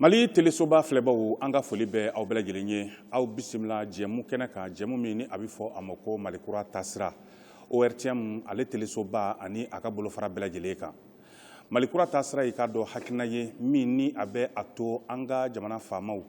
mali telesoba filɛbaw an ka foli bɛ aw bɛɛ lajɛlen ye aw bisimila jɛmu kɛnɛ kan jɛmu min ni a bɛ fɔ a ma ko mali kura taasira ortm ale telesoba ani a ka bolofara bɛɛ lajɛlen kan mali kura taasira y'i k'a dɔn hakilina ye min ni a bɛ a to an ka jamana faamaw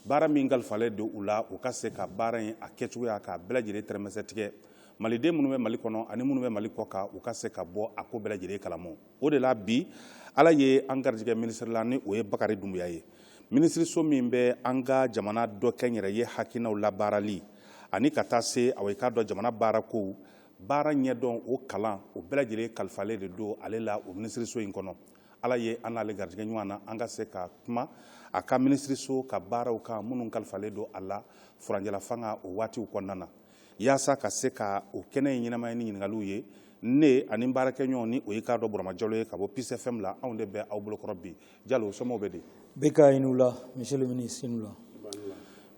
baara min kalifalen don u la u ka se ka baara in a kɛcogoya k'a bɛɛ lajɛlen tɛrɛmɛsɛ tigɛ maliden minnu bɛ mali kɔnɔ ani minnu bɛ mali kɔ kan u ka se ka bɔ a ko bɛɛ lajɛlen kalama o de la bi ala ye an garijɛgɛ minisiri la ni o ye bakari dunbuya ye minisiriso min bɛ an ka jamana dɔ kɛ n yɛrɛ ye hakilinaw labaarali ani ka taa se aw i k'a dɔn jamana baarakow baara ɲɛdɔn o kalan o bɛɛ lajɛlen kalifalen de don ale la o minisiriso in kɔnɔ ala ye an n'ale garijɛgɛ ɲɔgɔn na an ka se ka kuma a ka minisiriso ka baaraw kan minnu kalifalen don a la furancɛlafanga o waatiw kɔnɔna na yaasa ka se ka o kɛnɛ in ɲɛnamaya ni ɲininkaliw ye ne ani n baarakɛɲɔgɔn ni o ye k'a dɔn burama jalo ye ka bɔ peace fm la anw de bɛ aw bolokɔrɔ bi jalo somɔgɔw bɛ di beka i ni wula monsieur le ministre i ni wula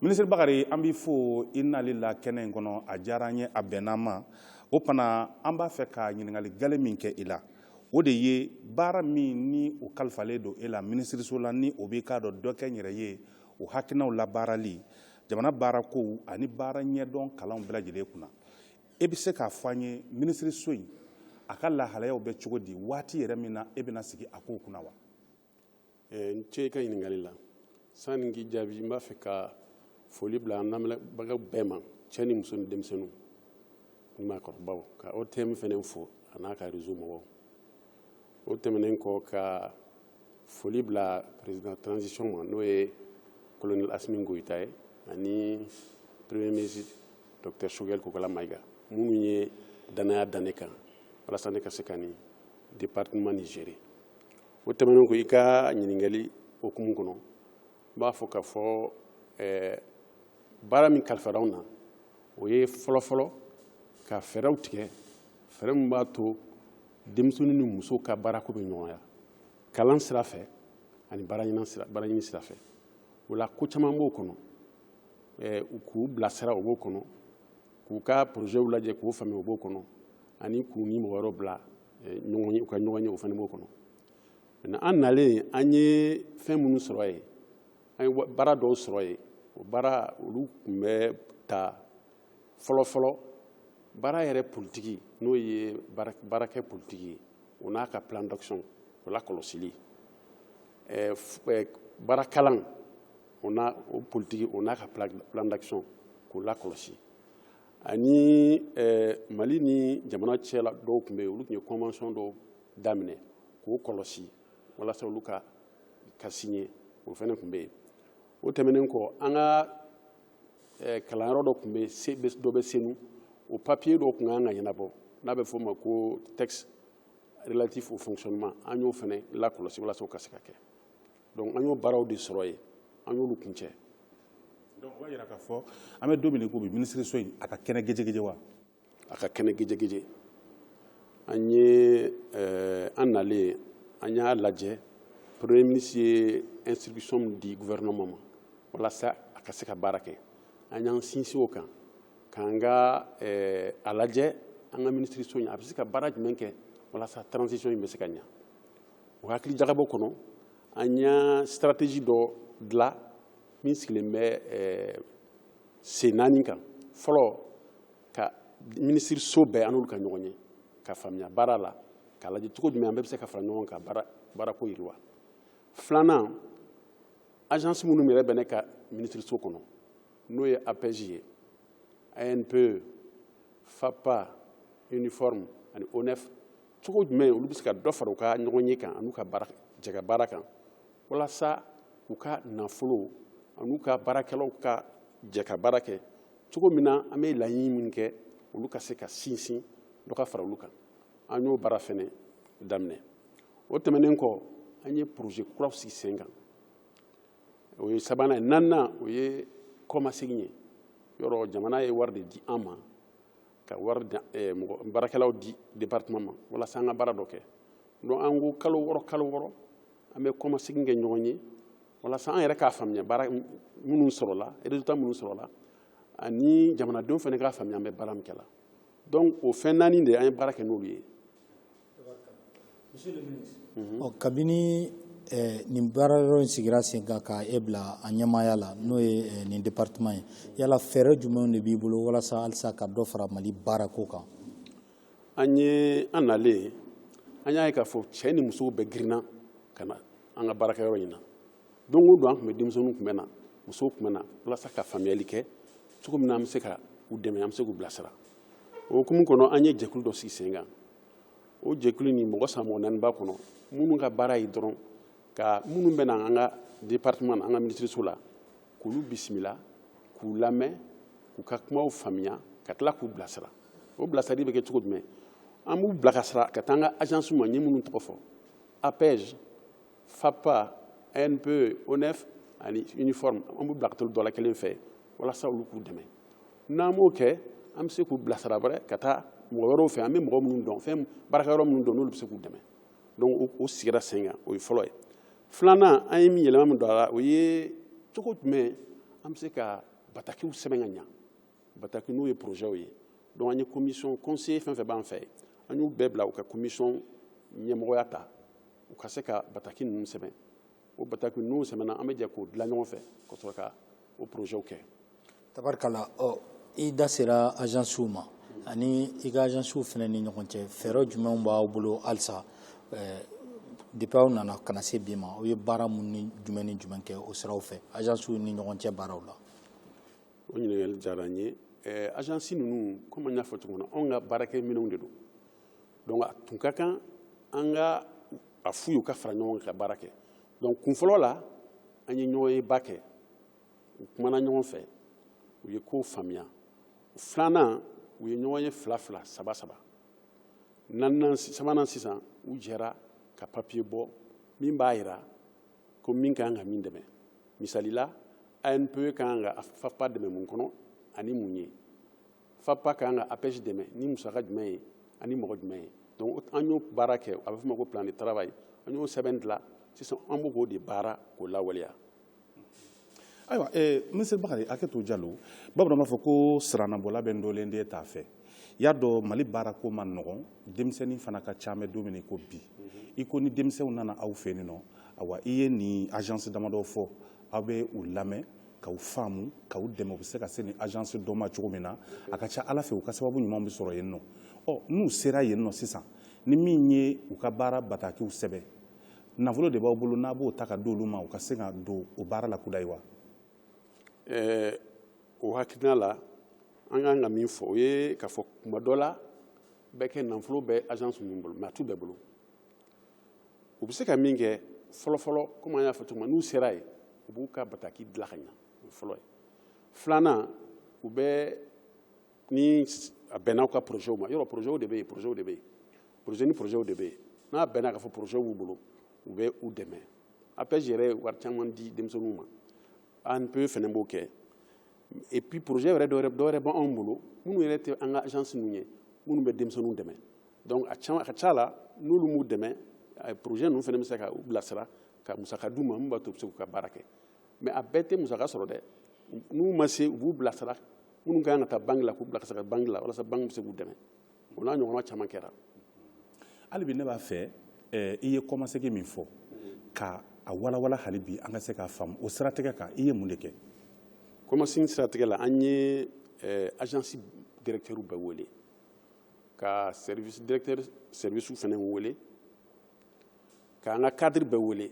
minisiri bakari an b'i fo i nali la kɛnɛ in kɔnɔ a diyara an ye a bɛnn'an ma o fana an b'a fɛ ka ɲininkali gale min kɛ i la o de ye baara min ni o kalifalen don e la minisiriso la ni o b'i k'a dɔn dɔ kɛ n yɛrɛ ye o hakilinaw labaarali jamana baarakow ani baara ɲɛdɔn kalanw bɛɛ lajɛlen kunna e bɛ se k'a fɔ an ye minisiriso in a ka lahalayaw bɛ cogo di waati yɛrɛ min na e bɛna sigi a kow kunna wa eh, i ni ce i ka ɲininkali la sani n k'i jaabi n b'a fɛ ka foli bila an lamɛnbagaw bɛɛ ma cɛ ni muso ni denmisɛnninw ni maakɔrɔbaw ka ortm fana fo a n'a ka réseau mɔgɔw o tɛmɛnen kɔ ka foli bila président transition ma n'o ye colonel Asimi Goyita ye ani premier ministre docteur Choguel Kokalla Maïga minnu ye danaya da ne kan walasa ne ka se ka nin département nin gérer o tɛmɛnen kɔ i ka ɲininkali hukumu kɔnɔ n b'a fɔ k'a fɔ eh, baara min kalifara anw na o ye fɔlɔfɔlɔ ka fɛɛrɛw tigɛ fɛɛrɛ min b'a to denmisɛnnin ni muso ka baarako bɛ nɔgɔya kalan sira fɛ ani baaraɲini sira fɛ o la ko caman b'o kɔnɔ k'u bilasira o b'o kɔnɔ k'u ka porozɛw lajɛ k'o faamuya o b'o kɔnɔ ani k'u ni mɔgɔ wɛrɛw bila u ka ɲɔgɔn ye o fana b'o kɔnɔ mais an nalen an ye fɛn minnu sɔrɔ yen an ye baara dɔw sɔrɔ yen o baara olu tun bɛ ta fɔlɔfɔlɔ baara yɛrɛ politiki n'o ye baarakɛ politiki ye o n'a ka plan d'action o lakɔlɔsili eh, eh, baara kalan o n'a o politiki o n'a ka plan d'action k'o lakɔlɔsi ani eh, mali ni jamana cɛla dɔw tun bɛ yen olu tun ye convention dɔw daminɛ k'o kɔlɔsi walasa olu ka ka siɲɛ o fana tun bɛ yen o tɛmɛnen kɔ an ka eh, kalanyɔrɔ dɔ tun bɛ dɔ bɛ senu o papiye dɔ tun kan ka ɲɛnabɔ n'a bɛ f'o ma ko texte relatif au fonctionnement an y'o fana lakɔlɔsi walasa o ka se ka kɛ donc an y'o baaraw de sɔrɔ yen an y'olu kuncɛ donc o b'a jira k'a fɔ an bɛ don min na i ko bi minisiriso in a ka kɛnɛ gejegeje wa a ka kɛnɛ gejegeje an ye eh, an nalen an y'a lajɛ premier ministre ye instruction min di gouvernement ma walasa a ka se ka baara kɛ an y'an sinsin o kan k'an ka eh, a lajɛ an ka minisiriso in a bɛ se ka baara jumɛn kɛ walasa transition in bɛ se ka ɲa o hakili jagabɔ kɔnɔ an y'a stratégie dɔ dilan min sigilen bɛ eh, sen naani kan fɔlɔ ka minisiriso bɛɛ an n'olu ka ɲɔgɔn ye ka faamuya baara la k'a lajɛ cogo jumɛn an bɛɛ bɛ se ka fara ɲɔgɔn kan baarako yiriwa filanan agence minnu yɛrɛ bɛ ne ka minisiriso kɔnɔ n'o ye apej ye anpe fafpa iniforp ani onef cogo jumɛn olu bɛ se ka dɔ fara u ka ɲɔgɔnye kan an'u ka baara jɛkabaara kan walasa u ka nafolo an'u ka baarakɛlaw ka jɛ ka baara kɛ cogo min na an bɛ laɲini min kɛ olu ka se ka sinsin dɔ ka fara olu kan an y'o baara fɛnɛ daminɛ o tɛmɛnen kɔ an ye projet kuraw sigi sen kan o ye sabanan ye naaninan o ye kɔmasegin ye yɔrɔ jamana ye wari de di an ma ka wari eh, mɔgɔ baarakɛlaw di département ma walasa an ka baara dɔ kɛ donc an ko kalo wɔɔrɔ kalo wɔɔrɔ an bɛ kɔmasegin kɛ ɲɔgɔn ye walasa an yɛrɛ k'a faamuya baara minnu sɔrɔla résultat minnu sɔrɔla ani jamanadenw fana k'a faamuya an bɛ baara min kɛ la donc o fɛn naani de an ye baara kɛ n'olu ye monsieur le ministre kabini eh, nin baara yɔrɔ in sigira sen kan ka e bila a ɲɛmaaya la n'o ye eh, nin département ye yala fɛɛrɛ jumɛnw de b'i bolo walasa halisa ka dɔ fara mali baarako kan an ye an nalen an y'a ye k'a fɔ cɛ ni musow bɛɛ girinna ka na an ka baarakɛyɔrɔ in na don o don an tun bɛ denmisɛnninw tun bɛ na musow tun bɛ na walasa ka faamuyali kɛ cogo min na an bɛ se ka u dɛmɛ an bɛ se k'u bilasira o hukumu kɔnɔ an ye jɛkulu dɔ sigi sen kan o jɛkulu nin mɔgɔ saba mɔgɔ naani b'a kɔnɔ minnu ka baara ye dɔrɔn ka minnu bɛ na an ka département na an ka minisiriso la k'olu bisimila k'u lamɛn k'u ka kumaw faamuya ka tila k'u bilasira o bilasirali bɛ kɛ cogo jumɛn an b'u bila ka sira ka taa an ka agence ma n ye minnu tɔgɔ fɔ apej fafpa anpe onef ani iniforp an b'u bila ka t'olu dɔ la kelen fɛ walasa olu k'u dɛmɛ n'an m'o kɛ an bɛ se k'u bilasira wɛrɛ ka taa mɔgɔ wɛrɛw fɛ an bɛ mɔgɔ minnu dɔn fɛn baarakɛyɔrɔ minnu dɔn n'olu bɛ se k'u dɛmɛ donc o sigira sen kan o ye fɔlɔ ye filanan an ye min yɛlɛma min don a la o ye cogo jumɛn an bɛ se ka batakiw sɛbɛn ka ɲa bataki n'o ye porozɛw ye donc an ye komisɔn kɔnseye fɛn fɛn b'an fɛ an y'u bɛɛ bila u ka komisɔn ɲɛmɔgɔya ta u ka se ka bataki ninnu sɛbɛn o bataki n'u sɛbɛnna an bɛ jɛ k'o dilan ɲɔgɔn fɛ ka sɔrɔ ka o porozɛw kɛ tabarikala ɔ i da sera ajansiw ma ani i ka ajansiw fana ni ɲɔgɔn cɛ fɛɛrɛ jumɛnw b'aw bolo halisa eh, depuis aw nana ka na se bi ma aw ye baara mun ni jumɛn ni jumɛn kɛ o siraw fɛ ajansiw ni ɲɔgɔn cɛ baaraw la o ɲininkali diyara n ye ɛɛ agence ninnu komi an y'a fɔ cogo min na anw ka baarakɛminɛnw de don donc a tun ka kan an ka a f'u ye u ka fara ɲɔgɔn kan ka baara kɛ donc kun fɔlɔ la an ye ɲɔgɔnyeba kɛ u kumana ɲɔgɔn fɛ u ye kow faamuya filanan u ye ɲɔgɔn ye fila fila saba saba naani naani sabanan sisan u jɛra ka papiye bɔ min b'a jira ko min ka kan ka min dɛmɛ misali la anpe ka kan ka fafpa dɛmɛ mun kɔnɔ ani mun ye fafpa ka kan ka apej dɛmɛ ni musaka jumɛn ye ani mɔgɔ jumɛn ye donc an y'o baara kɛ a bɛ f'o ma ko plan de travail an y'o sɛbɛn dilan sisan an b'o ko de baara k'o lawaleya ayiwa eh, minisiri bakari hakɛ to jalo bamananw b'a fɔ ko siranabɔla bɛ ndolen den t'a fɛ y'a dɔn mali baarako ma nɔgɔn denmisɛnnin fana ka ca an bɛ don min i ko bi i ko ni denmisɛnw nana aw fɛ nin nɔ awa i ye nin ajansi damadɔ fɔ aw bɛ u lamɛn k'u faamu k'u dɛmɛ u bɛ se ka se nin ajansi dɔ ma cogo min na a ka ca ala fɛ u ka sababu ɲuman bɛ sɔrɔ yen nɔ ɔ n'u sera yen nɔ sisan ni min ye u ka baara batakiw sɛbɛn nafolo de b'aw bolo n'a b'o ta ka di olu ma u ka se ka don o baara la kudayi wa eh, o hakilina la an ka kan ka min fɔ o ye k'a fɔ kuma dɔ la bɛ kɛ nafolo bɛ agence ninnu bolo mais a t'u bɛɛ bolo u bɛ se ka min kɛ fɔlɔfɔlɔ komi an y'a fɔ cogo min n'u sera yen u b'u ka bataki dilan ka ɲa o ye fɔlɔ ye filanan u bɛ ni a bɛnna u ka porozɛw ma yɔrɔ porozɛw de bɛ yen porozɛw de bɛ yen porozɛ ni porozɛw de bɛ yen n'a bɛnna k'a fɔ porozɛw b'u bolo u bɛ u dɛmɛ apej yɛrɛ ye wari caman di denmisɛnninw ma anpe fana b'o kɛ et puis porozɛ yɛrɛ dɔwɛrɛ dɔwɛrɛ bɛ anw bolo minnu yɛrɛ tɛ an ka agence ninnu ye minnu bɛ denmisɛnninw dɛmɛ donc a caman a ka ca la n'olu m'u dɛmɛ porozɛ ninnu fana bɛ se ka u bilasira ka musaka d'u ma min b'a to u bɛ se k'u ka baara kɛ mais a bɛɛ tɛ musaka sɔrɔ dɛ n'u ma se u b'u bilasira minnu ka kan ka taa banki la k'u bila ka se ka banki la walasa banki bɛ se k'u dɛmɛ o n'a ɲɔgɔnna caman kɛra hali bi ne b'a fɛ eh, i ye kɔmasegin min fɔ ka a walawala hali bi an ka se k'a faamu o siratigɛ kan i ye mun de kɛ kɔmasegin siratigɛ la an ye eh, agence directeurs bɛɛ wele ka service directeur service fana wele k'an ka cadre bɛɛ wele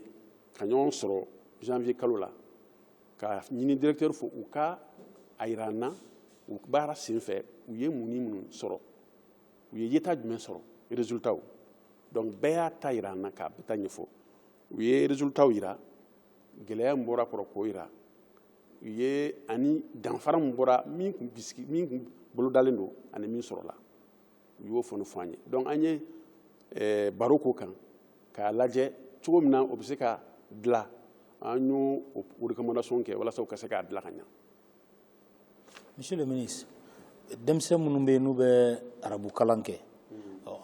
ka ɲɔgɔn sɔrɔ janvier kalo la k'a ɲini directeurs fɛ u ka a yira an na u baara sen fɛ u ye mun ni minnu sɔrɔ u ye ɲɛtaa jumɛn sɔrɔ résultats donc bɛɛ y'a ta yira an na k'a bɛɛ ta ɲɛfɔ u ye résultats yira gɛlɛya min bɔra kɔrɔ k'o yira u ye ani danfara min bɔra min kun bisigi min kun bolodalen don ani min sɔrɔla u y'o fana fɔ an ye donc an ye eh, baro k'o kan k'a lajɛ cogo min na o bɛ se ka dilan an y'o recommandation kɛ walasa u ka se k'a dilan ka ɲa monsieur le ministre denmisɛn minnu bɛ yen n'u bɛ arabu kalan kɛ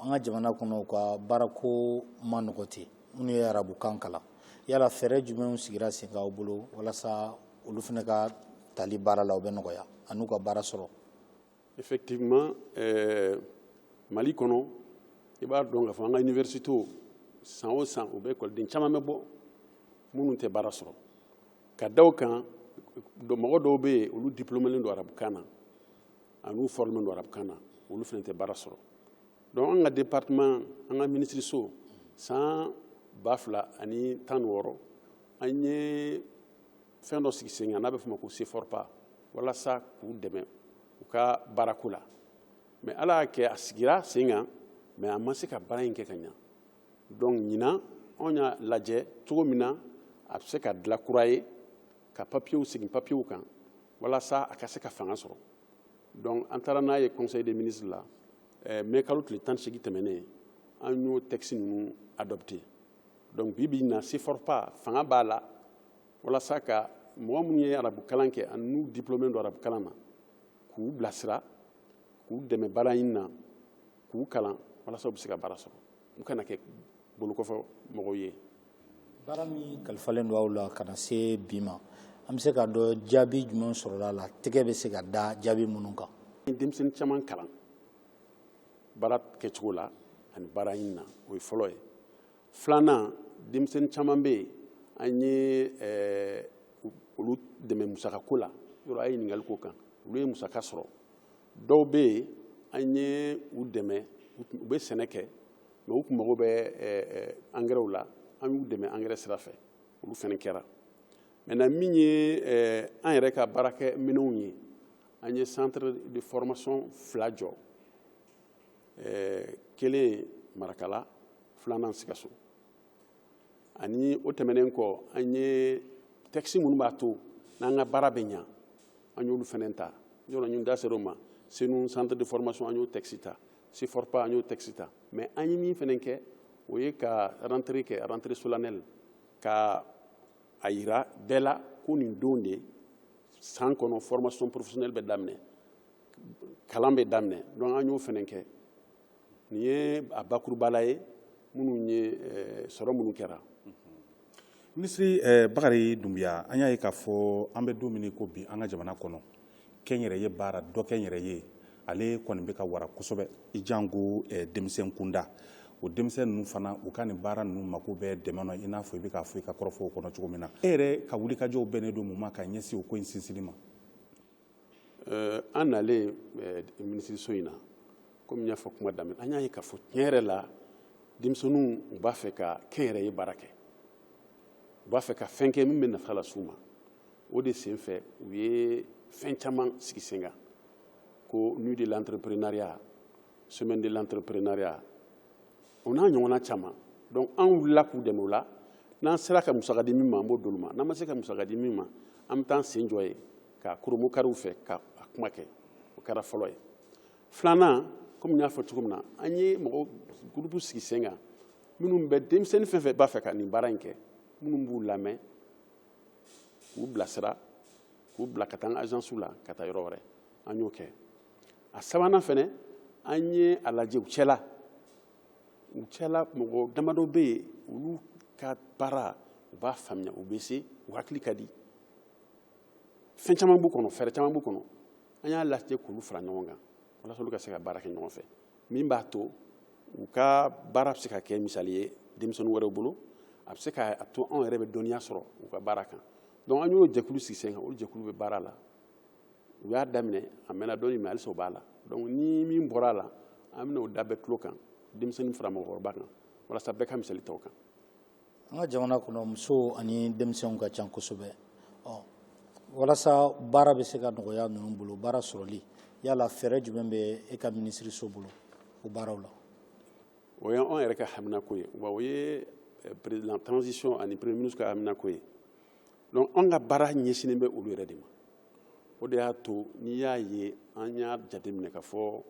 an ka jamana kɔnɔ u ka baarako man nɔgɔ ten minnu ye arabu kan kalan yala fɛɛrɛ jumɛnw sigira sen kan aw bolo walasa olu fana ka tali baara la o bɛ nɔgɔya an'u ka baara sɔrɔ effectivement euh, mali kɔnɔ i b'a dɔn k'a fɔ an ka universitew san o san u bɛ ekɔliden caman bɛ bɔ minnu tɛ baara sɔrɔ ka da o kan mɔgɔ dɔw bɛ yen olu diplomelen don arabukan na an'u formelen don arabukan na olu fana tɛ baara sɔrɔ donc an ka département an ka minisiriso san ba fila ani tan ni wɔɔrɔ an ye fɛn dɔ sigi sen kan n'a bɛ f'o ma ko ceforpa walasa k'u dɛmɛ u ka baarako la mais ala y'a kɛ a sigira sen kan mais a ma se ka baara in kɛ ka ɲa donc ɲinan anw y'a lajɛ cogo min na a bɛ se ka dilan kura ye ka papiyew segin papiyew kan walasa a ka se ka fanga sɔrɔ donc an taara n'a ye conseil des ministres la eh, mai kalo tile tan ni seegin tɛmɛnen an y'o texte ninnu adopté donc bi bi in na ceforpa fanga b'a la walasa ka mɔgɔ minnu ye arabu kalan kɛ ani n'u diplômé don arabu kalan na k'u bilasira k'u dɛmɛ baara ɲini na k'u kalan walasa u bɛ se ka baara sɔrɔ u kana kɛ bolokɔfɛ mɔgɔw ye baara min kalifalen don aw la ka na se bi ma an bɛ se k'a dɔn jaabi jumɛn sɔrɔla a la tɛgɛ bɛ se ka da jaabi minnu kan denmisɛnnin caman kalan baara kɛcogo la ani baara ɲini na o ye fɔlɔ ye filanan denmisɛnnin caman bɛ yen an ye eh, olu dɛmɛ musaka ko la yɔrɔ a ye ɲininkali k'o kan olu ye musaka sɔrɔ dɔw bɛ yen an ye u dɛmɛ u bɛ sɛnɛ kɛ mais u tun mago bɛ eh, eh, angɛrɛw la an y'u dɛmɛ angɛrɛ sira fɛ olu fana kɛra maintenant min ye eh, an yɛrɛ ka baarakɛ minɛnw ye an ye centre de formation fila jɔ eh, kelen marakala filanan sikaso ani o tɛmɛnen kɔ an ye tɛkisi minnu b'a to n'an ka baara bɛ ɲa an y'olu fana ta yɔrɔ i da ser'o ma senu centre de formation an y'o tɛkisi ta siforpa an y'o tɛkisi ta mais an ye min fana kɛ o ye ka rentrée kɛ rentrée solennelle ka a yira bɛɛ la ko nin don de san kɔnɔ formation professionnelle bɛ daminɛ kalan bɛ daminɛ donc an y'o fana kɛ nin ye a bakurubala ye minnu ye eh, sɔrɔ minnu kɛra minisiri eh, bakari dunbiya an y'a ye k'a fɔ an bɛ don min i ko bi an ka jamana kɔnɔ kɛnyɛrɛye baara dɔ kɛnyɛrɛye ale kɔni bɛ ka wara kosɛbɛ i janko eh, denmisɛn kunda o denmisɛn ninnu fana u ka nin baara ninnu mako bɛ dɛmɛ na i n'a fɔ i bɛ k'a fɔ i ka kɔrɔfɔw kɔnɔ cogo min na e yɛrɛ ka wulikajɔw bɛnnen don mun ma ka ɲɛsin o ko in sinsinni ma an nalen minisiriso in na kɔmi n y'a fɔ kuma daminɛ an y'a ye k'a fɔ tiɲɛ yɛrɛ la denmisɛnninw u b'a fɛ ka kɛnyɛrɛye baara kɛ u b'a fɛ ka fɛn kɛ min bɛ nafa las'u ma o de sen fɛ u ye fɛn caman sigi sen kan ko nuit de l'entrepreneuriat semaine de l'entrepreneuriat o n'a ɲɔgɔnna caman donc an wulila k'u dɛmɛ o la n'an sera ka musaka di min ma an b'o d'olu ma n'an ma se ka musaka di min ma an bɛ taa an sen jɔ ye k'a kurumu kariw fɛ ka a kuma kɛ o kɛra fɔlɔ ye filanan komi n y'a fɔ cogo min na an ye mɔgɔ gurupu sigi sen kan minnu bɛ denmisɛnnin fɛn fɛn b'a fɛ ka nin baara in kɛ minnu b'u lamɛn k'u bilasira k'u bila ka taa an ka ajansiw la ka taa yɔrɔ wɛrɛ an y'o kɛ a sabanan fɛnɛ an ye a lajɛ u cɛla u cɛla mɔgɔ damadɔ bɛ yen olu ka baara u b'a faamuya u bɛ se u hakili ka di fɛn caman b'u kɔnɔ fɛɛrɛ caman b'u kɔnɔ an y'a lajɛ k'olu fara ɲɔgɔn kan walasa olu ka se ka baara kɛ ɲɔgɔn fɛ min b'a to u ka baara bɛ se ka kɛ misali ye denmisɛnnin wɛrɛw bolo a bɛ se k'a to anw yɛrɛ bɛ dɔnniya sɔrɔ u ka baara kan donc an y'o jɛkulu sigi sen kan o jɛkulu bɛ baara la u y'a daminɛ a mɛnna dɔɔni mais halisa o b'a la donc ni min bɔra a la an bɛna o da bɛɛ tulo kan denmisɛnnin fara mɔgɔkɔrɔba kan walasa bɛɛ ka misali ta o kan an ka jamana kɔnɔ musow ani denmisɛnw ka ca kosɛbɛ walasa baara bɛ se ka nɔgɔya ninnu bolo baara sɔrɔli yala fɛɛrɛ jumɛn bɛ e ka minisiriso bolo o baaraw la o y'an yɛrɛ ka haminako ye wa o ye eh, président transition ani premier ministre ka haminako ye donc an ka baara ɲɛsinnen bɛ olu yɛrɛ de ma o de y'a to n'i y'a ye an y'a jateminɛ k'a fɔ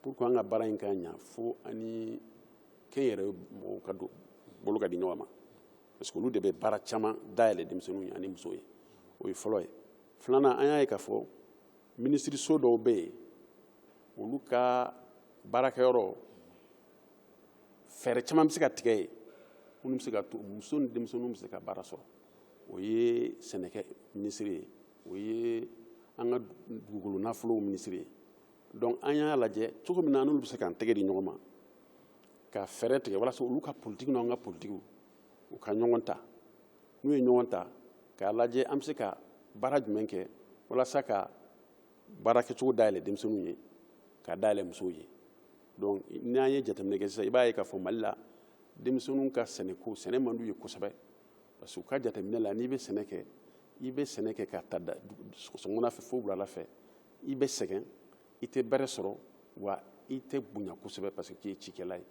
pour que an ka baara in ka ɲa fo an ni kɛnyɛrɛye mɔgɔw ka bolo ka di ɲɔgɔn ma parce que olu de bɛ baara caman dayɛlɛ denmisɛnninw ye ani musow ye o ye fɔlɔ ye filanan an y'a ye k'a fɔ minisiriso dɔw bɛ yen olu ka baarakɛyɔrɔ fɛɛrɛ caman bɛ se ka tigɛ yen minnu bɛ se k'a to muso ni denmisɛnninw bɛ se ka baara sɔrɔ o ye sɛnɛkɛ minisiri ye o ye an ka dugukolo nafolow minisiri ye donc an y'a lajɛ cogo min na an n'olu bɛ se k'an tɛgɛ di ɲɔgɔn ma ka fɛɛrɛ tigɛ walasa olu ka politiki n'an ka politiki u ka ɲɔgɔn ta n'u ye ɲɔgɔn ta k'a lajɛ an bɛ se ka baara jumɛn kɛ walasa ka baara kɛcogo dayɛlɛ denmisɛnninw ye k'a dayɛlɛ musow ye donc n'an ye jateminɛ kɛ sisan i b'a ye k'a fɔ mali la denmisɛnninw ka sɛnɛko sɛnɛ man d'u ye kosɛbɛ parce que u ka jateminɛ la n'i bɛ sɛnɛ kɛ i bɛ sɛnɛ kɛ ka ta sɔgɔmada fɛ fo wulada fɛ i bɛ sɛgɛn i tɛ bɛrɛ sɔrɔ wa i tɛ bonya kosɛbɛ parce que k'i ye cikɛla ye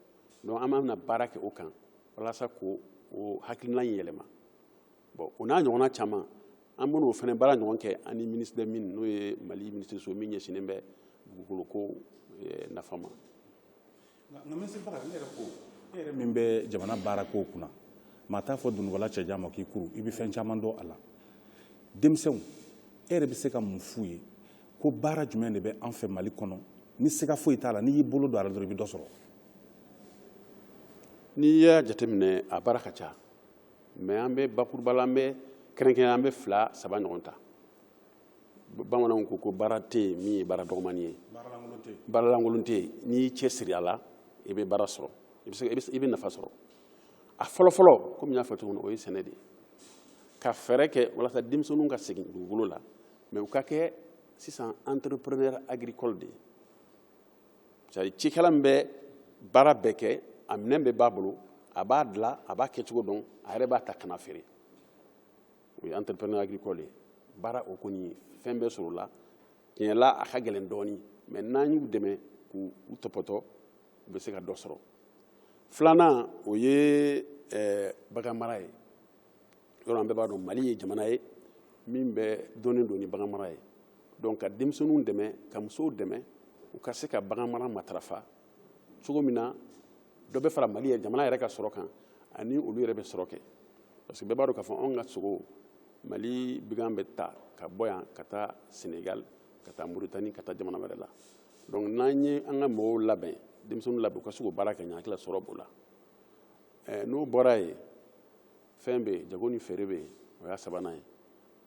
donc an bɛna baara kɛ o kan walasa k'o hakilina in yɛlɛma bon o n'a ɲɔgɔnna caman an bɛna o fana baara ɲɔgɔn kɛ an ni ministre des mines n'o ye mali minisiriso min ɲɛsinnen bɛ dugukoloko eh, nafa ma min bɛ jamana baarakow kunna maa t'a fɔ dunugɔla cɛjan ma k'i kuru i bɛ fɛn caman dɔn a la denmisɛnw e yɛrɛ bɛ se ka mun f'u ye ko baara jumɛn de bɛ an fɛ mali kɔnɔ ni siga foyi t'a la n'i y'i bolo don a la dɔrɔn i bɛ dɔ sɔrɔ n'i y'a jateminɛ a baara ka ca mais an bɛ bakuruba la an bɛ kɛrɛnkɛrɛn an bɛ fila saba ɲɔgɔn ta bamananw ko ko baara tɛ yen min ye baara dɔgɔmani ye baara lankolon tɛ yen n'i y'i cɛsiri a la i bɛ baara sɔrɔ i bɛ nafa sɔrɔ a fɔlɔfɔlɔ komi n y'a fɔ cogo min o ye sɛnɛ de ye ka fɛɛrɛ kɛ walasa denmisɛnninw ka segin dugukolo la mais u ka kɛ sisan entrepreneur agricole de ye c'est cikɛla min bɛ baara bɛɛ kɛ a minɛn bɛɛ b'a bolo a b'a dilan a b'a kɛcogo dɔn a yɛrɛ b'a ta ka n'a feere o ye entrepreneur agricole ye baara o kɔni fɛn bɛ sɔrɔ o la tiɲɛ la a ka gɛlɛn dɔɔni mɛ n'an y'u dɛmɛ k'u tɔpɔtɔ u bɛ se ka dɔ sɔrɔ filanan o ye eh, bagan mara ye yɔrɔ an bɛɛ b'a dɔn mali ye jamana ye min bɛ dɔnnen don ni bagan mara ye donc ka denmisɛnninw dɛmɛ ka musow dɛmɛ u ka se ka bagan mara matarafa cogo min na dɔ bɛ fara mali yɛrɛ jamana yɛrɛ ka sɔrɔ kan ani olu yɛrɛ bɛ sɔrɔ kɛ parce que bɛɛ b'a dɔn k'a fɔ anw ka sogo mali bagan bɛ ta ka bɔ yan ka taa senegal ka taa mauritanie ka taa jamana wɛrɛ la donc n'an ye an ka mɔgɔw labɛn denmisɛnninw labɛn u ka se k'o baara kɛ ɲɛ hakili la sɔrɔ b'o la eh, n'o bɔra yen fɛn bɛ yen jago ni feere bɛ yen o y'a sabanan ye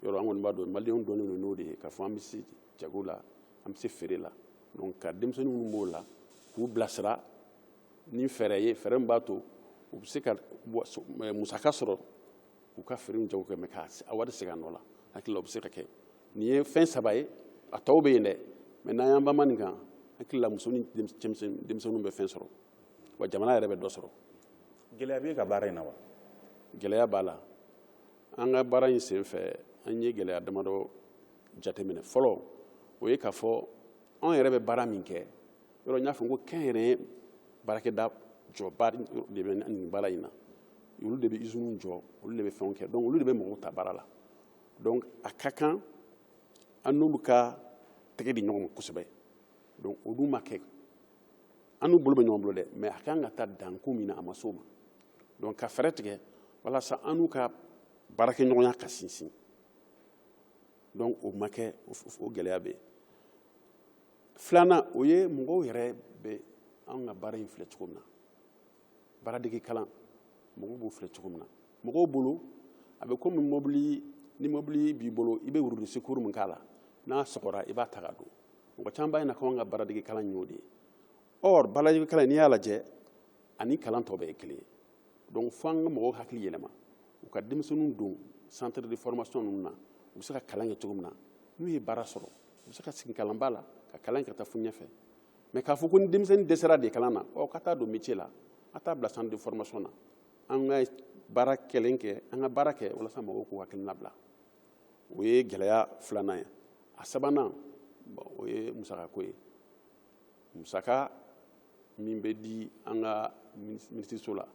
yɔrɔ an kɔni b'a dɔn maliyɛnw dɔnnen don n'o de ye k'a fɔ an bɛ se jago la an bɛ se feere la donc ka denmisɛnnin minnu b'o la k'u bilasira ni fɛɛrɛ ye fɛɛrɛ min b'a to u bɛ se ka musaka sɔrɔ k'u ka feere jago kɛ mɛ k'a wari segin a nɔ la hakili la o bɛ se ka kɛ nin ye fɛn saba ye a tɔw bɛ yen dɛ mɛ n'an y'an banba nin kan hakili la muso ni denmisɛnninw bɛ fɛn sɔrɔ wa jamana yɛrɛ bɛ dɔ sɔrɔ gɛlɛya b'e ka baara in na wa gɛlɛya b'a la an ka baara in senfɛ an ye gɛlɛya damadɔ jateminɛ fɔlɔ o ye k'a fɔ anw yɛrɛ bɛ baara min kɛ yɔrɔ n y'a fɔ ko kɛnyɛrɛye baarakɛda jɔba de bɛ nin baara in na olu de bɛ iziniw jɔ olu de bɛ fɛnw kɛ donc olu de bɛ mɔgɔw ta baara la donc a ka kan an n'olu ka tɛgɛ di ɲɔgɔn ma kosɛbɛ donc olu ma kɛ an n'u bolo bɛ ɲɔgɔn bolo dɛ mɛ a kan ka taa danko min na a ma s'o ma donc ka fɛɛrɛ tigɛ walasa an n'u ka baarakɛɲɔgɔnya ka sinsin donc o ma kɛ o gɛlɛya bɛ yen filanan o ye mɔgɔw yɛrɛ bɛ an ka baara in filɛ cogo min na baaradege kalan mɔgɔw b'o filɛ cogo min na mɔgɔw bolo a bɛ komi mobili ni mobili b'i bolo i bɛ roue de secours min k'a la n'a sɔgɔra i b'a ta k'a don mɔgɔ caman b'a ɲɛna ko an ka baaradege kalan y'o de ye or baaradege kalan n'i y'a lajɛ ani kalan tɔ bɛɛ ye kelen ye donc fo an ka mɔgɔw hakili yɛlɛma u ka denmisɛnninw don centre de formation ninnu na u bɛ se ka kalan kɛ cogo min na n'u ye baara sɔrɔ u bɛ se ka sigi kalanba la ka kalan ka taa fo ɲɛfɛ mɛ k'a fɔ ko ni denmisɛnnin dɛsɛra de kalan na ɔ ka taa don métier la a t'a bila centre de formation na an ka baara kelen kɛ an ka baara kɛ walasa mɔgɔw k'u hakilina bila o ye gɛlɛya filanan ye a sabanan o ye musakako ye musaka min bɛ di an ka minisiriso la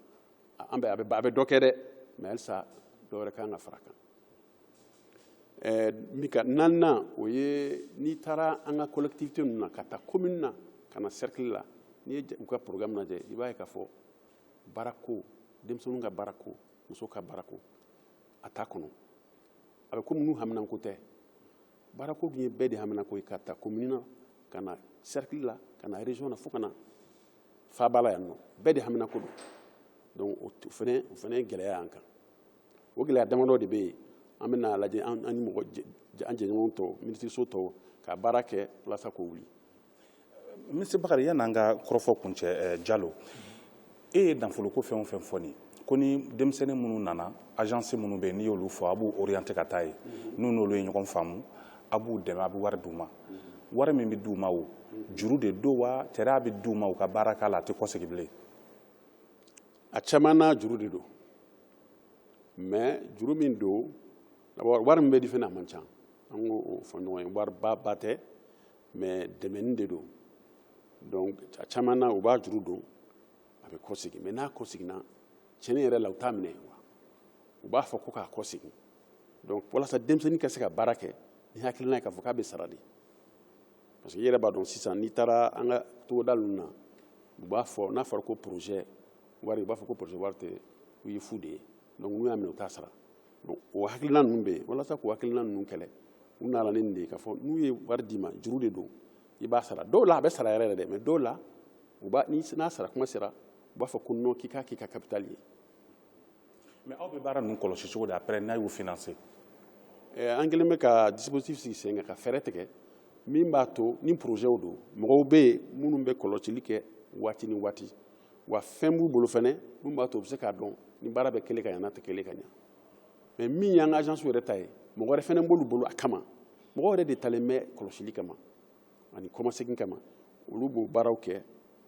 a bɛ dɔ kɛ dɛ mɛ halisa dɔ wɛrɛ kan ka fara kan eh, min ka naaninan o ye n'i taara an ka collectivité ninnu na ka taa commune na ka na cercle la n'i ye u ka programme lajɛ i b'a ye k'a fɔ baarako denmisɛnninw ka baarako musow ka baarako a t'a kɔnɔ a bɛ komi n'u haminanko tɛ baarako dun ye bɛɛ de haminanko ye k'a ta commune na ka na cercle la ka na région na fo ka na faaba la yan nɔ bɛɛ de haminanko don donc o fana o fana ye gɛlɛya y'an kan o gɛlɛya damadɔ de bɛ yen an bɛn'a lajɛ an ni mɔgɔ an jɛɲɔgɔn tɔw minisiriso tɔw ka baara kɛ walasa k'o wuli minisiri bakari yann'an ka kɔrɔfɔ kuncɛ eh, jalo e ye nafoloko fɛn o fɛn fɔ nin ko ni denmisɛnnin minnu nana agence minnu bɛ yen n'i y'olu fɔ a b'u orienter ka taa yen mm-hmm. n'u n'olu ye ɲɔgɔn faamu a b'u dɛmɛ a bɛ wari d'u ma mm-hmm. wari min bɛ d'u ma o mm-hmm. juru de don wa tari a bɛ d'u ma u ka baara k'a la a tɛ kɔsegin bilen a caman na juru de don mais juru min don wari min bɛ di fana a man ca an k'o fɔ ɲɔgɔn ye wariba ba tɛ mais dɛmɛni de don donc a caman na u b'a juru don a bɛ kɔsegin mais n'a kɔseginna tiɲɛni yɛrɛ la u t'a minɛ wa u b'a fɔ ko k'a kɔsegin donc walasa denmisɛnnin ka se ka baara kɛ ni hakilina ye k'a fɔ k'a bɛ sara de parce que i yɛrɛ b'a dɔn sisan n'i taara an ka togoda ninnu na u b'a fɔ n'a fɔra ko projet wari u b'a fɔ ko poroze wari tɛ o ye fu de ye donc n'u y'a minɛ u t'a sara donc o hakilina ninnu bɛ yen walasa k'o hakilina ninnu kɛlɛ u nana ni nin de ye k'a fɔ n'u ye wari d'i ma juru de don i b'a sara dɔw la a bɛ sara yɛrɛ yɛrɛ dɛ mais dɔw la u b'a ni n'a sara kuma sera u b'a fɔ ko non k'i k'a k'i ka capital ye mais aw bɛ baara ninnu kɔlɔsi cogo di après n'aw y'u financer eh, an kɛlen bɛ ka dispositif sigi sen kan ka fɛɛrɛ tigɛ min b'a to ni projetw don mɔgɔw bɛ yen minnu bɛ kɔlɔsili kɛ waati ni waati wa fɛn b'u bolo fɛnɛ min b'a to u bɛ se k'a dɔn ni baara bɛ kɛlen ka ɲa n'a tɛ kɛlen ka ɲa mais min y'an ka agence yɛrɛ ta ye mɔgɔ wɛrɛ fɛnɛ b'olu bolo a kama mɔgɔ yɛrɛ de talen bɛ kɔlɔsili kama ani kɔmasegin kama olu b'o baaraw kɛ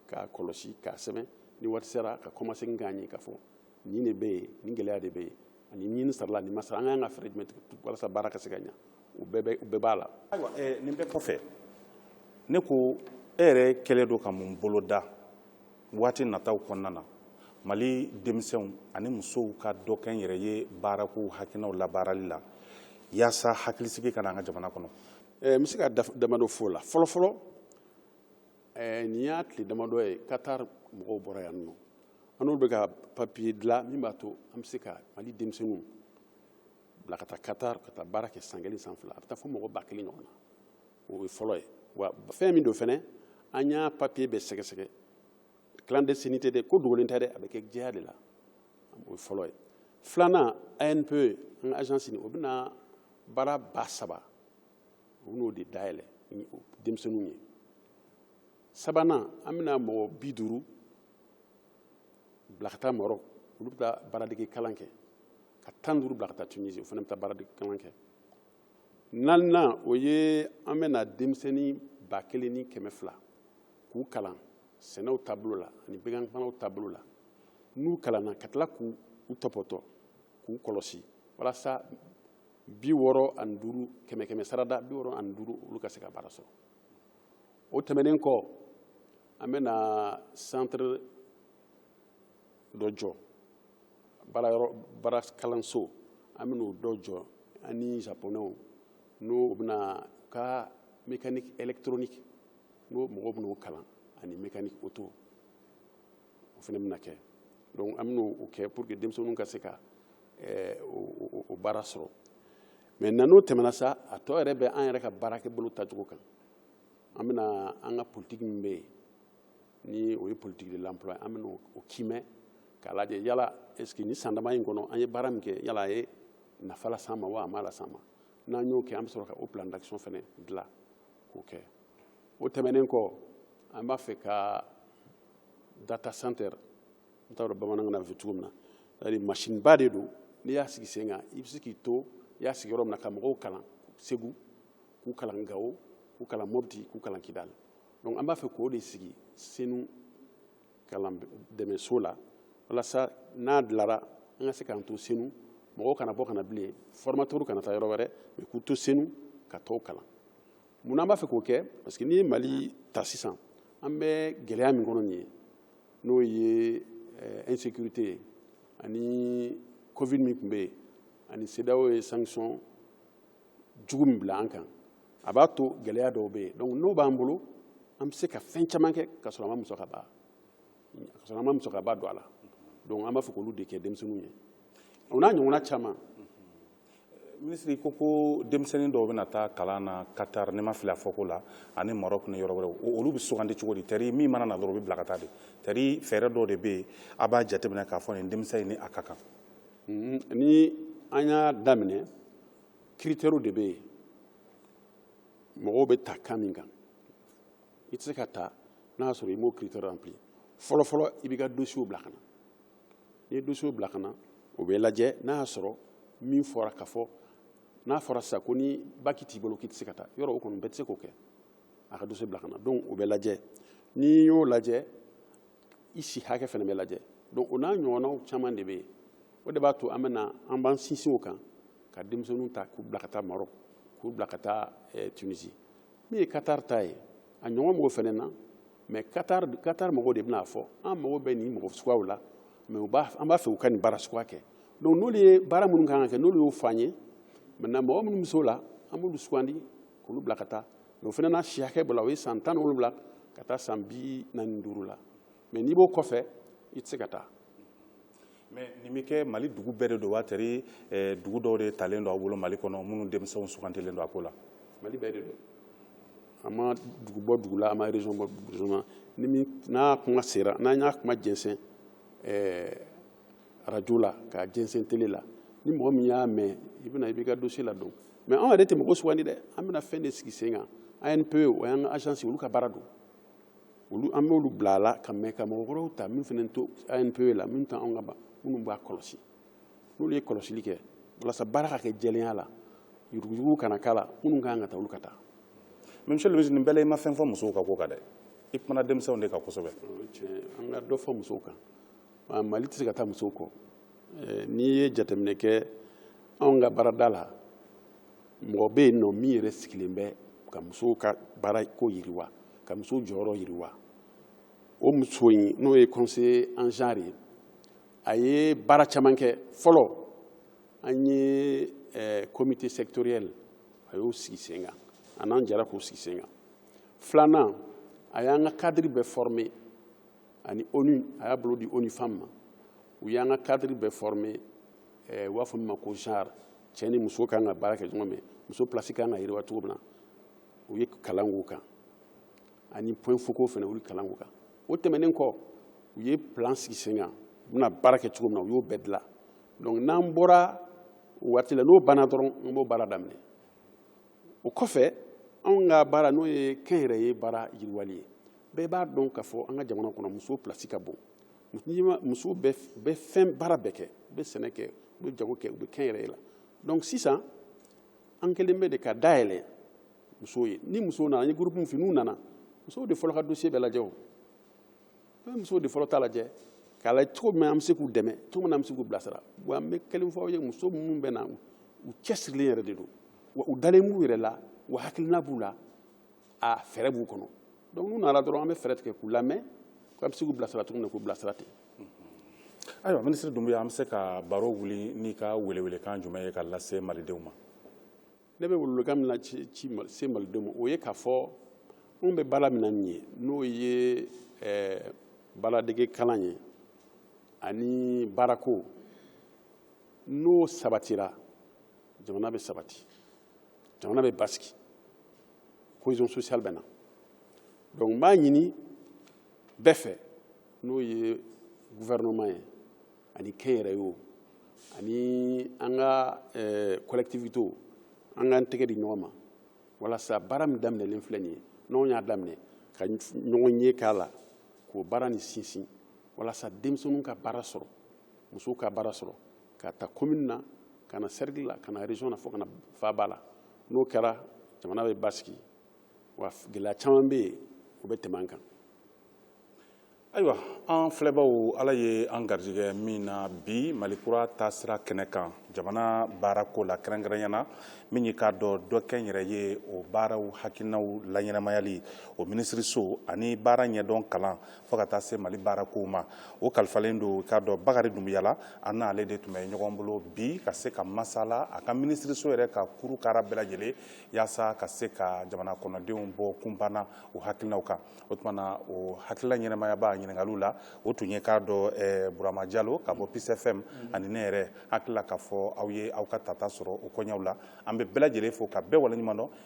k'a kɔlɔsi k'a sɛbɛn ni waati sera ka kɔmasegin k'a ye k'a fɔ nin de bɛ yen nin gɛlɛya de bɛ yen ani nin sarala nin ma sara an ka kan ka fɛɛrɛ jumɛn tigɛ walasa baara ka se ka ɲa o bɛɛ b'a la ayiwa nin bɛɛ kɔfɛ ne ko e yɛrɛ kɛlen don ka mun boloda waati nataw kɔnɔna na mali denmisɛnw ani musow ka dɔkɛnyɛrɛye baarako hakilinaw labaarali la yaasa hakilisigi ka na an ka jamana kɔnɔ n bɛ se ka damadɔ fɔ o la fɔlɔfɔlɔ nin y'a tile damadɔ ye katar mɔgɔw bɔra yan nɔ an n'olu bɛ ka papiye dilan min b'a to an bɛ se ka mali denmisɛnninw bila ka taa katar ka taa baara kɛ san kelen san fila a bɛ taa fo mɔgɔ ba kelen ɲɔgɔn na o ye fɔlɔ ye wa fɛn min don fɛnɛ an y'a papiye bɛɛ sɛgɛsɛgɛ clandestinité tɛ ko dogolen tɛ dɛ a bɛ kɛ jɛya de la o ye fɔlɔ ye filanan anpe an ka agence nin o bɛna baara ba saba u bɛn'o de dayɛlɛ ni denmisɛnninw ye sabanan an bɛna mɔgɔ bi duuru bila ka taa marɔk olu bɛ taa baaradege kalan kɛ ka tan duuru bila ka taa tunisi o fana bɛ taa baaradege kalan kɛ naaninan o ye an bɛna denmisɛnnin ba kelen ni kɛmɛ fila k'u kalan sɛnɛw taabolo la ani bɛganmaraw taabolo la n'u kalanna ka tila k'u tɔpɔtɔ k'u kɔlɔsi walasa bi wɔɔrɔ ani duuru kɛmɛ kɛmɛ sarada bi wɔɔrɔ ani duuru olu ka se ka baara sɔrɔ o tɛmɛnen kɔ an bɛna centre dɔ jɔ baara kalanso an bɛna o dɔ jɔ an ni japonɛw n'o bɛna ka mécanique électronique n'o mɔgɔw bɛna o kalan ani mécanique auto o fana bɛna kɛ donc an bɛna o kɛ pour que denmisɛnninw ka se ka eh, o baara sɔrɔ mais na n'o tɛmɛna sa a tɔ yɛrɛ bɛ an yɛrɛ ka baarakɛbolo tacogo kan an bɛna an ka politiki min bɛ yen ni o ye politique de l'emploi an bɛna o kiimɛ k'a lajɛ yala est-ce que ni san dama in kɔnɔ an ye baara min kɛ yala a ye nafa las'an ma wa a ma las'an ma n'an y'o kɛ an bɛ sɔrɔ ka o plan d'action fana dilan k'o kɛ o tɛmɛnen kɔ an b'a fɛ ka data center n t'a dɔn bamanankan na bɛ fɔ cogo min na c'est-à-dire machine ba de don n'i y'a sigi sen kan i bɛ se k'i to i y'a sigi yɔrɔ min na ka mɔgɔw kalan segu k'u kalan gawo k'u kalan mɔbiti k'u kalan kidali donc an b'a fɛ k'o de sigi senu kalan dɛmɛso la walasa n'a dilara an ka se k'an to senu mɔgɔw kana bɔ kana bilen formateurw kana taa yɔrɔ wɛrɛ mais k'u to senu ka tɔw kalan munna an b'a fɛ k'o kɛ parce que n'i ye mali ta sisan an bɛ gɛlɛya min kɔnɔ nin ye n'o ye eh, insécurité ye ani covid min tun bɛ yen ani cedeao ye sanction jugu min bila an kan a b'a to gɛlɛya dɔw bɛ yen donc n'o b'an bolo an bɛ se ka fɛn caman kɛ ka sɔrɔ an ma musakaba ka sɔrɔ an ma musakaba don a la donc an b'a fɛ k'olu de kɛ denmisɛnninw ye o n'a ɲɔgɔnna caman minisiri ko ko denmisɛnnin dɔw bɛna taa kalan na katar ne ma fili a fɔko la ani marɔk ni yɔrɔ wɛrɛw olu bɛ sugandi cogo di tari min mana na dɔrɔn u bɛ bila ka taa de tari fɛɛrɛ dɔw de bɛ yen a b'a jateminɛ k'a fɔ nin denmisɛn in ni a ka kan ni an y'a daminɛ critères de bɛ yen mɔgɔw bɛ ta kan min kan i tɛ se ka ta n'a y'a sɔrɔ i m'o critère rempli fɔlɔfɔlɔ i b'i ka dossier bila ka na n'i ye dossier bila ka na o bɛ lajɛ n'a y'a sɔrɔ min fɔra ka fɔ n'a fɔra sisan ko ni bac t'i bolo k'i tɛ se ka taa yɔrɔ o kɔni bɛɛ tɛ se k'o kɛ a ka dossier bila ka na donc o bɛ lajɛ n'i y'o lajɛ i si hakɛ fana bɛ lajɛ donc o n'a ɲɔgɔnnaw caman de bɛ yen o de b'a to an bɛna an b'an sinsin o kan ka denmisɛnninw ta k'u bila ka taa Maroc k'u bila ka taa eh, Tunisie min ye Qatar ta ye a ɲɔgɔn b'o fana na mais Qatar Qatar mɔgɔw de bɛn'a fɔ an mago bɛ nin mɔgɔ suguyaw la mais u b'a an b'a fɛ u ka nin baara suguya kɛ donc n'olu ye baara minnu kan ka kɛ n'olu y'o fɔ an ye maintenant mɔgɔ minnu bɛ se o la an b'olu sugandi k'olu bila ka taa o fana na si hakɛ b'o la o ye san tan ni wolonwula ka taa san bi naani duuru la mais n'i b'o kɔfɛ i tɛ se ka taa mais nin bɛ kɛ mali dugu bɛɛ de don wa tari eh, dugu dɔw de talen don aw bolo mali kɔnɔ minnu denmisɛnw sugantilen don a ko la mali bɛɛ de don a ma dugu bɔ dugu la a ma région bɔ région na ni min n'a kuma sera n'an y'a kuma jɛnsɛn eh, arajo la k'a jɛnsɛn tele la ni mɔgɔ min y'a mɛn i bɛna i b'i ka dossier ladon mais anw yɛrɛ tɛ mɔgɔ sugandi dɛ an bɛna fɛn de sigi sen kan ANPE o y'an ka agence olu ka baara don olu an b'olu bila a la ka mɛn ka mɔgɔ wɛrɛw ta min fana t'o ANPE la min tɛ anw ka ban minnu b'a kɔlɔsi n'olu ye kɔlɔsili kɛ walasa baara ka kɛ jɛlenya la yuruguyurugu kana k'a la minnu ka kan ka taa olu ka taa. mais monsieur le ministre nin bɛɛ la i ma fɛn fɔ musow ka ko kan dɛ i kumana denmisɛnw de kan kosɛbɛ. tiɲɛ an ka dɔ fɔ musow kan. mali tɛ se ka taa musow kɔ eh, n'i ye jateminɛ kɛ anw ka baarada la mɔgɔ bɛ yen nɔ min yɛrɛ sigilen bɛ ka musow ka baara ko yiriwa ka musow jɔyɔrɔ yiriwa o muso in n'o ye conseiller en genre ye a ye baara caman kɛ fɔlɔ an ye eh, comité sectoriel a y'o sigi sen kan a n'an jɛra k'o sigi sen kan filanan a y'an ka cadre bɛɛ former ani ONU a y'a bolo di ONU Femmes ma u y'an ka cadre bɛɛ former eh, u b'a fɔ min ma ko genre cɛ ni muso kan ka baara kɛ ɲɔgɔn fɛ muso place kan ka yiriwa cogo min na u ye kalan k'o kan ani point focaux fana u ye kalan k'o kan o tɛmɛnen kɔ u ye plan sigi sen kan u bɛna baara kɛ cogo min na u y'o bɛɛ dilan donc n'an bɔra waati la n'o banna dɔrɔn an b'o baara daminɛ o kɔfɛ anw ka baara n'o ye kɛnyɛrɛye baara yiriwali ye bɛɛ b'a dɔn k'a fɔ an ka jamana kɔnɔ muso place ka bon muso bɛ fɛn baara bɛɛ kɛ u bɛ sɛnɛ kɛ u bɛ jago kɛ u bɛ kɛnyɛrɛye la donc sisan an kɛlen bɛ de ka dayɛlɛ musow ye ni musow nana an ye groupe min fɔ n'u nana musow de fɔlɔ ka dossier bɛ lajɛ an bɛ musow de fɔlɔ ta lajɛ k'a lajɛ cogo min an bɛ se k'u dɛmɛ cogo min na an bɛ se k'u bilasira wa an bɛ kelen fɔ aw ye muso minnu bɛ na u cɛsirilen yɛrɛ de don wa u dalen b'u yɛrɛ la wa hakilina b'u la a fɛɛrɛ b'u kɔnɔ donc n'u nana dɔrɔn an bɛ fɛɛrɛ tigɛ k'u lamɛn k'an bɛ se k'u bilasira cogo min na k'u bilasira ten ayiwa minisiri dunbuya an bɛ se ka baro wuli n'i ka welewelekan jumɛn ye ka lase malidenw ma ne bɛ welewelekan min lase malidenw ma o ye k'a fɔ anw bɛ baara min na nin ye n'o ye eh, baaradege kalan ye ani baarako n'o sabatira jamana bɛ sabati jamana bɛ basigi cohésion sociale bɛ na donc n b'a ɲini bɛɛ fɛ n'o ye gouvernement ye ani kɛnyɛrɛye o ani an ka eh, collectivité o an k'an tɛgɛ di ɲɔgɔn ma walasa baara min daminɛlen filɛ nin ye n'anw y'a daminɛ ka ɲɔgɔn ye k'a la k'o baara nin sinsin walasa denmisɛnninw ka baara sɔrɔ musow ka baara sɔrɔ ka ta commune na ka na cercle la ka na région na fo ka na faaba la n'o kɛra jamana bɛ basigi wa gɛlɛya caman bɛ yen o bɛ tɛmɛ an kan ayiwa an filɛbaw ala ye an garijɛgɛ min na bi malikura taasira kɛnɛ kan jamana baarako la kɛrɛnkɛrɛnya na min ye k'a dɔn dɔ kɛnyɛrɛye o baaraw hakilinaw laɲɛnamayali o minisiriso ani baara ɲɛdɔn kalan fo ka taa se mali baarakow ma o kalifalen don k'a dɔn bakari dunbuya la an n'ale de tun bɛ ɲɔgɔn bolo bi ka se ka masala a ka minisiriso yɛrɛ ka kuru kara bɛɛ lajɛlen yaasa ka se ka jamana kɔnɔdenw bɔ kunpan na o hakilinaw kan o tuma na o hakilila ɲɛnamayaba ɲininkaliw la o tun ye k'a dɔn eh, burama jalo ka bɔ peace fm ani ne yɛrɛ hakilila k'a fɔ aw ye aw ka tata sɔrɔ o koɲɛw la an bɛ bɛɛ lajɛlen fo ka bɛɛ waleɲuman dɔn